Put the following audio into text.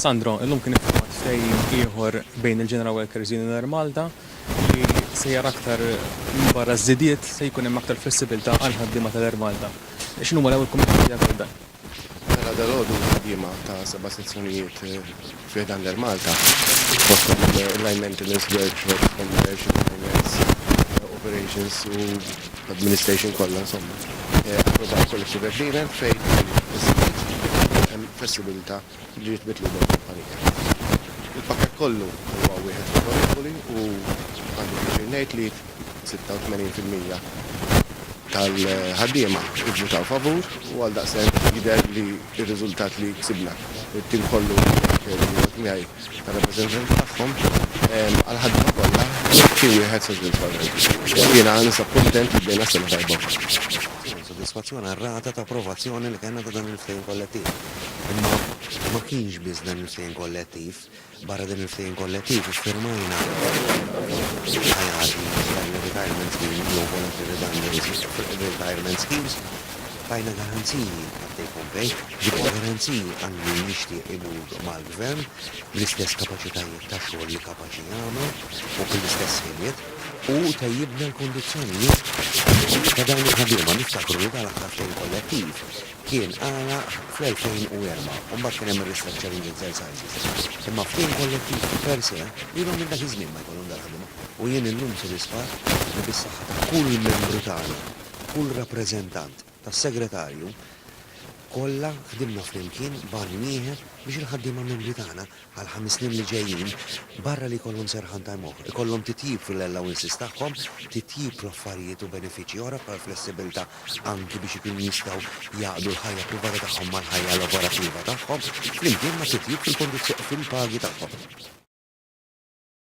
Sandro, illum kien iffirmat ftehim ieħor bejn il-General Workers Union Air Malta li sejjer aktar minbarra ż-żidiet se jkun hemm aktar flessibilità għall-ħaddiema tal-Air Malta. X'inhuma l-ewwel kummenti tiegħek għal dan? Mela dalgħodu l-ħaddiema ta' seba' sezzjonijiet fi ħdan l-Air Malta, fosthom il-Line Maintenance Workshop, Commercial, Finance, Operations u l-Administration kollha insomma, approvaw Collective Agreement fejn is-sit hemm flessibilità li ġiet mitluba mill-kumpanija. Il-pakkett kollu huwa wieħed favorevoli u għandi pjaċir ngħid li 86 fil-mija tal-ħaddiema vvutaw favur u għaldaqstant jidher li r-riżultat li ksibna, it-tim kollu jirriferi li jgħod miegħi tar-rappreżentanti tagħhom, għall-ħaddiema kollha xi wieħed sodisfaċenti. Jiena ninsab kuntent li bdejna s-sena tajba wkoll. Tieni sodisfazzjon għar-rata ta' approvazzjoni li kellna ta' dan il-ftehim kollettiv. Imma ma kienx biss dan il-ftehim kollettiv Barra din il-ftehim kollettiv iffirmajna l-IRBs, l-Annual Retirement Scheme jew Voluntary Redundancy Retirement Schemes, tajna garanziji għat-take home pay, ġibna garanziji għal min jixtieq imur mal-Gvern bl-istess kapaċitajiet ta' xogħol li kapaċi jagħmel u bl-istess ħiliet u tejjibna l-kondizzjonijiet ta' dawn il-ħaddiema. Niftakru li dan l-aħħar ftehim kollettiv Kien għalaq fl-2004 u mbagħad kien hemm ir-ristructuring exercises. Imma ftehim kollettiv per se ilhom minn dak iż-żmien ma jkollhom dal-ħdma u jien illum sodisfatt li bis-saħħa ta' kull membru tagħna, kull rappreżentant, tas-segretarju, kollha ħdimna flimkien b'għan wieħed biex il-ħaddiema membri tagħna Għall-ħames snin li ġejjin, barra li jkollhom serħan time off, ikollhom titjib fil-allowances tagħhom, titjib fl-affarijiet u benefiċċji oħra bħal flessibilità anki biex ikunu jistgħu jgħaqqdu l-ħajja privata tagħhom mal-ħajja lavorattiva tagħhom, flimkien ma' titjib fil-kondizzjoni fil-pagi tagħhom.